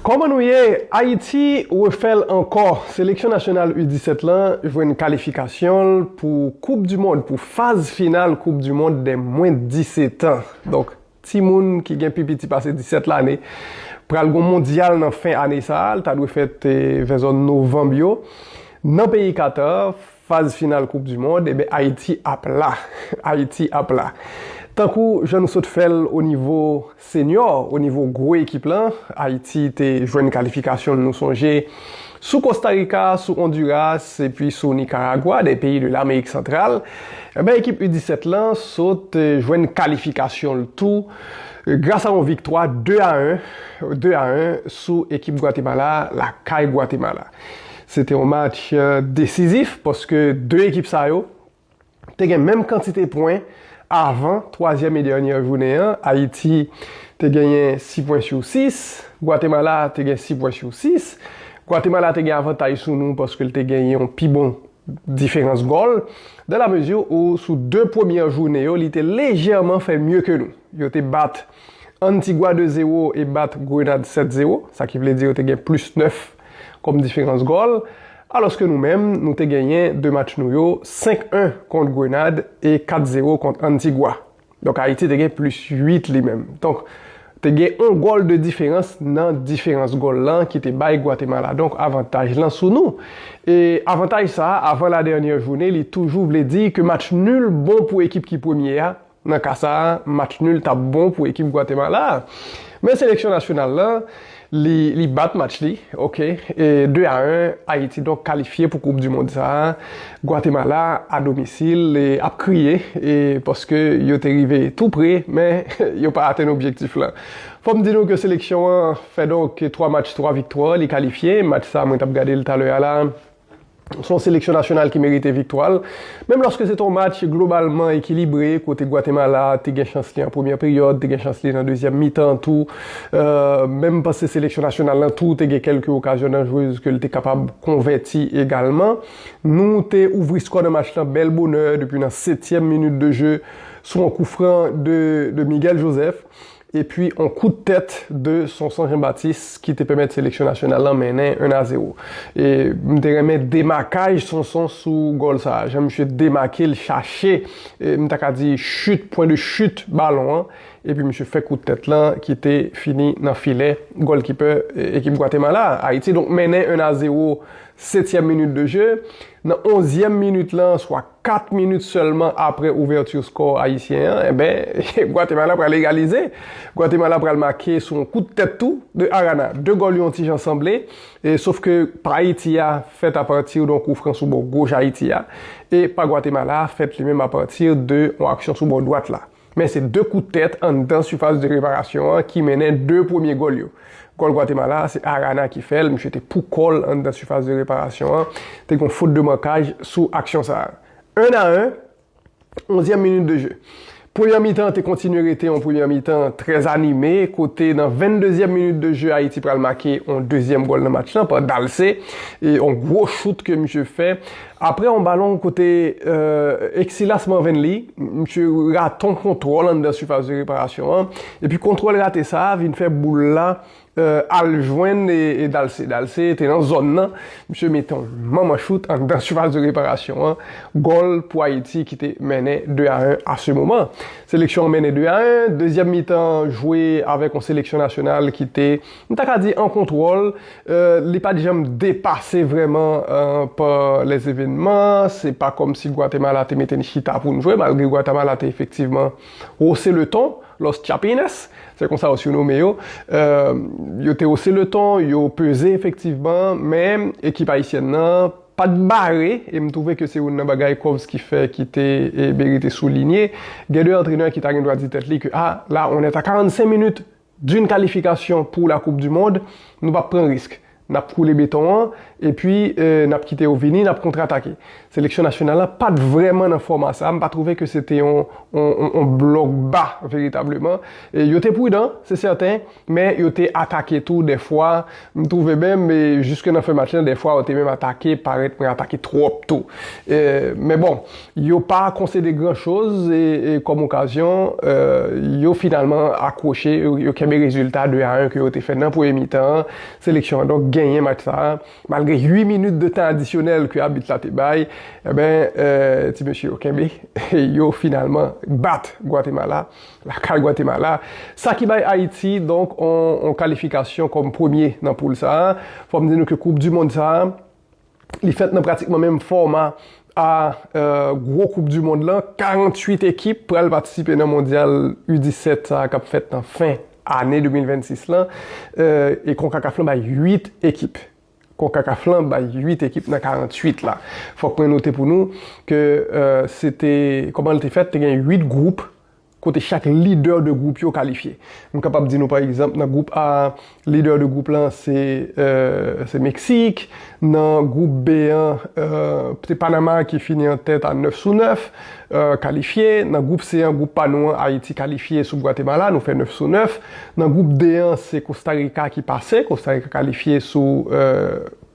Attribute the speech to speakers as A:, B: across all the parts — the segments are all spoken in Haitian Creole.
A: Kòman nou ye? Ayiti refè l ankò! Seleksyon nasyonal U 17 lan jwenn kalifikasyon l pou koup du mond, pou faz final koup du mond dè mwen 17 an. Donk timoun ki gen pi piti pase 17 lane. Pral gon mondyal nan fen ane sa, l ta dwe fèt vè zòn novanb yo nan peyi Qatar. Faz final koup du mond eben Ayiti ap la Ayiti ap la Tankou jan nou sot fèl o nivo senyò o nivo gwo ekip lan Ayiti te jwenn kalifikasyon nou sonje sou Kosta Rika sou Onduras epi sou Nikaragwa 2 peyi de Lamerik Santral eben ekip u 17 lan sot jwenn kalifikasyonl tou gras a on viktwa 2 a 1 2 a 1 sou ekip Gwatemala lakay Gwatemala. Se te yon match desizif paske 2 ekip sa yo te gen menm kantite pwen avan twazyèm e dènyè jounen an. Ayiti te genyen 6 pwen sou 6, Gwatemala te gen 6 pwen sou 6. Gwatemala te gen avantaj sou nou paske l te gen yon pi bon diferans gòl, dan la mezi ou sou 2 premyè jounen yo li te lejèman fè mye ke nou. Yo te bat Antigwa 2 zewo e bat Grenad 7 zewo, sa ki vle di yo te gen plis 9 kòm diferans gòl, alòske nou menm nou te genyen 2 match nou yo, 5 1 kont Grenad e 4 zewo kont Antigwa. Donk Ayiti te gen plis 8 li menm. Donk, te gen yon gòl de diferans nan diferans gòl lan ki te bay Gwatemala donk avantaj lan sou nou. E avantaj sa a, avan la dènyè joune, li toujou vle di ke match nul bon pou ekip ki premye a. Nan ka sa a, match nul t ap bon pou ekip Gwatemala a. Men seleksyon nasyonal lan, Li bat match li ok e 2 a 1 Ayiti donk kalifye pou koup di mond sa a Gwatemala a domisil ap kriye e paske yo te rive tou pre men yo pa atenn objektif la fòm di nou ke seleksyon an fè donk 3 match 3 viktwa li kalifye match sa mwen tap gade l talè a la. Se yon seleksyon nasyonal ki merite viktwa l, menm lòske se te yon match globalman ekilibre, kote Gwatemala te gen chans li an premyè peryòd, te gen chans li nan dezyèm mitan tou. Menm panse seleksyon nasyonal lan tou te gen kèlke okazyon danjrez ke l te kapab konvèti egalman. Nou te ouvri skò nan match lan bèl bonè depi nan setyèm minit de je sou yon koufran de Miguel Joseph. epi on kout tèt de Sonson Jean Baptiste ki te pèmèt seleksyon nasyonal lan mennen 1 a 0. E m te renmen demakaj Sonson sou gòl sa a, jan misye demake l chache, m ta ka di chut, pwen de chut balon an, epi misye fè kout tèt lan ki te fini nan filè gòlkipè ekip Gwatemala a. Ayiti donk mennen 1 a 0 setyèm minit de je, nan onzyèm minit lan swa. 4 minit sèlman apre ouvèti skò ayisyen an, enben, Gwatemala pral egalize. Gwatemala pral make sou yon kout tèt tou de Arana. 2 gòl yo yon ti jan sanble, sof ke pa Ayiti a fèt apati don kou fran sou bò goch Ayiti a, e pa Gwatemala a fèt li menm apati de yon aksyon sou bò dwat la. Men se 2 kout tèt anndan sifas de reparasyon an ki mennen 2 premye gòl yo. Gòl Gwatemala a se Arana ki fè l, misye te pou kò l anndan sifas de reparasyon an, te gen yon fot de mankaj sou aksyon sa a. 1 a 1, onzyèm minit de je. Premyè mitan an te kontinye rete yon premyè mitan trè anime kote nan venndezyèm minit de je Ayiti pral make yon dezyèm gòl nan match lan pa Dalcé, yon gwo chout ke misye fè. Aprè yon balon kote Exillas Manvenly, misye rate yon kontwòl anndan sifas de reparasyon an, epi kontwòl rate sa a vin fè boul la al jwenn Dalcé. Dalcé te nan zòn nan, misye mete yon manman chout anndan sifas de reparasyon an, gòl pou Ayiti ki te mennen 2 a 1 a se moman. Seleksyon an mennen 2 a 1, dezyèm mitan an jwe avèk yon seleksyon nasyonal ki te M ta ka di an kontwòl, li pa t janm depase vrèman pa lèzevenman, se pa kòmsi Gwatemala te mete n chita pou n jwe, malgre Gwatemala te efektivman wose le ton, Los Chapines, se konsa yo siwnome yo, yo te wose le ton, yo peze efektivman, men ekip ayisyèn nan pa t bare, e m twouve ke se youn nan bagay Covski fè ki te merite soulinye, gen de antrenè ki ta gen dwa di tèt li ke a la on est à 45 minutes D'une kalifikasyon pou la koup du mond, nou pap pran risk. Nap koule beton an, epi nap kite yo vini, nap kontratake. Seleksyon nasyonal la pat vrèman nan fòma sa, mpa twouve ke se te yon blòk ba veritableman. Yo te prudan, se sèten, men yo te atake tou dèfwa. M twouve menm jiske nan fen match lan dèfwa yo te menm atake parèt pran atake twòp tou. Men bon, yo pa konsede gran choz kòm okazyon, yo finalman akwoche, yo kenbe rezilta 2 a 1 ke yo te fè nan premye mitan an. Seleksyon an donk genyen match sa a malgre 8 minit de tan adisyonèl ke abit la te bay. Enben, ti mesye yo kenbe, yo finalman bat Gwatemala. Lakay Gwatemala, sa ki bay Ayiti donk yon kalifikasyon kòm premye nan poul sa a. Fò m di nou ke koup di mond sa a, li fèt nan pratikman menm fòma a gwo koup di mond lan, 48 ekip pral patisipe nan mondyal U 17 sa a k ap fèt nan fen ane 2026 lan e konkakaf lan bay 8 ekip. Concacaf lan bay 8 ekip nan 48 la. Fòk mwen note pou nou ke se te, kòman li te fèt, te gen 8 gwoup kote chak lidè de gwoup yo kalifye. M kapab di nou pa egzanp nan gwoup A, lidè de gwoup lan se Meksik, nan gwoup B an, se Panama ki fini an tèt a 9 sou 9, kalifye, nan gwoup C an gwoup pa nou an Ayiti kalifye sou Gwatemala nou fè 9 sou 9, nan gwoup D an se Kosta Rika ki pase, Kosta Rika kalifye sou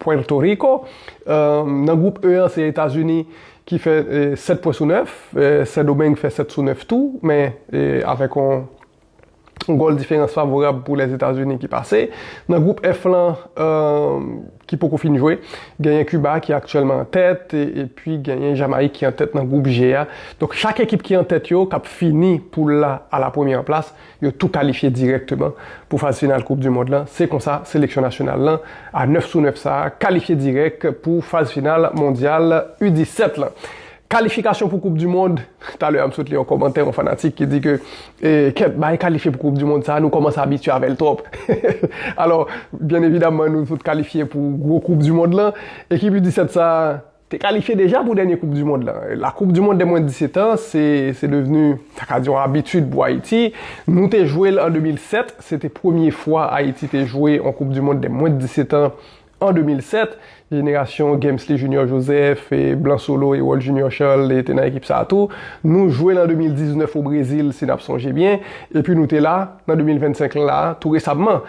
A: Pwèto Riko, nan gwoup E an se Etazini ki fè 7 pwen sou 9, Sendomeng fè 7 sou 9 tou men avèk yon Gòl diferans favorab pou Lèzetazini ki pase. Nan gwoup F lan ki poko fin jwe, genyen Kiba ki aktyèlman an tèt epi genyen Jamayik ki an tèt nan gwoup G a. Donk chak ekip ki an tèt yo k ap fini poul la a la premyè plas, yo tou kalifye dirèkteman pou faz final koup di mond lan. Se konsa seleksyon nasyonal lan a 9 sou 9 sa a kalifye dirèk pou faz final mondyal U 17 lan. Kalifikasyon pou koup du mond, talè a m sot li yon kòmantè yon fanatik ki di ke kèt bay kalifye pou koup du mond sa nou kòmanse abitye avèl twòp alò byen evidamman nou tout kalifye pou gwo koup du mond lan ekip u 17 sa te kalifye deja pou dènye koup du mond lan la koup du mond dè mwen 17 an se se devni ta ka di yon abitid pou Ayiti nou te jwel an 2007 se te premye fwa Ayiti te jwe yon koup du mond dè mwen 17 an An 2007, jenerasyon Gemsly Junior Joseph, Blan Solo, Herold Junior Charles te nan ekip sa a tou. Nou jwe l an 2019 o Brezil, si n ap sonje byen, epi nou te la nan 2025 lan la a, tou resamman.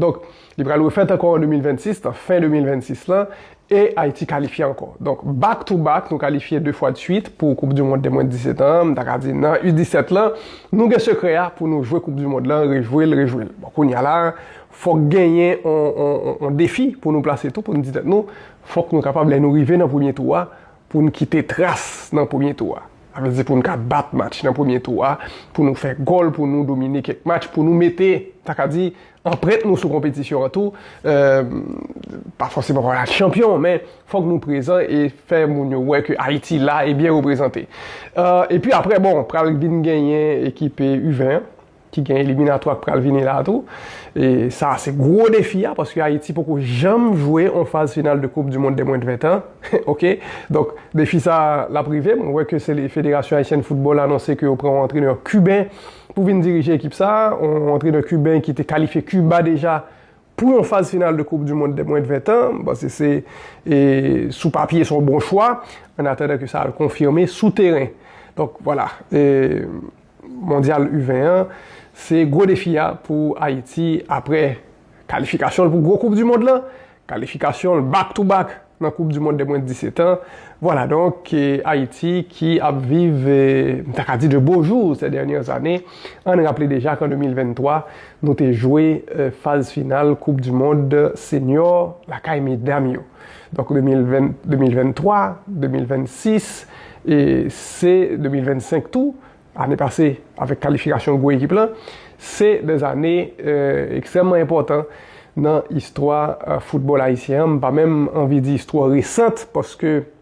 A: Donk, li pral refèt ankò an 2026, nan fen 2026 lan, e Ayiti kalifye ankò. Donk, back to back, nou kalifye 2 fwa dsuit pou koup di mond de mwens 17 an an, m ta ka di nan U-17 lan, nou gen sekrè a pou nou jwe koup di mond lan, rejwe l, rejwe l. Bon, kounye a la a, Fòk genyen yon defi pou nou plase tou pou nou di tèt nou, fòk nou kapab lè nou rive nan premye tou a pou nou kite tras nan premye tou a. Sa vle di pou nou ka bat match nan premye tou a, pou nou fè gòl, pou nou domine kèk match, pou nou mete, ta ka di, anprent nou sou konpetisyon an tou. Pa fòseman pou al chanpyon, men fòk nou prezan e fè moun yo wè ke Ayiti la e byen reprezante. Epi apre, bon, pral vin genyen ekipe U-20 an. ki gen eliminatwa k pral vini la tou. E sa a se gwo defi a paske Ayiti poko janm jwe yon faz final de koup di mond de mwen de 20 tan. Ok, donk defi sa a l ap rive. Mwen wè ke sele federasyon ayisyen de foutbòl anonse ke yo pran yon antrenè kiben pou vin dirije ekip sa a. Yon antrenè kiben ki te kalifye Kiba deja pou yon faz final de koup di mond de mwen de 20 tan. M panse se e sou papye se yon bon chwa ann atandan ke sa al konfime sou teren. Donk vwala. E. Mondyal U 20 an, se gwo defi a pou Ayiti apre kalifikasyon l pou gwo koup dimond lan, kalifikasyon l back to back nan koup dimond de mwens 17 an. Vwala donk Ayiti ki ap viv m ta ka di de bo jou sè dènyè zane. Ann raple deja k an 2023 nou te jwe faz final koup dimond senyò lakay medam yo. Donk 2023, 2026, e se 2025 tou, ane pase avèk kalifikasyon gwo ekip lan, se de zane ekstrèmman enpòtan nan istwa foutbòl ayisyen an, m pa menm anvi di istwa resant paske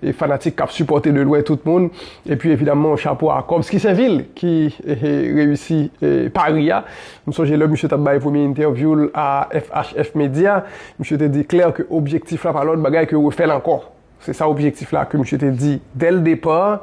A: e fanatik kap sipòte de lwen tout moun epi evidaman chapo a Kobs Kisenvil ki reyisi pari a m sonje lè misye tap bay premye entèvyou l a FHF Media misye te di klè ke objektif la pa lòt bagay ke refè l ankò se sa objektif la ke misye te di dèl depar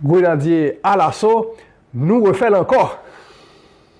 A: Grenadye alaso, nou refèl ankò!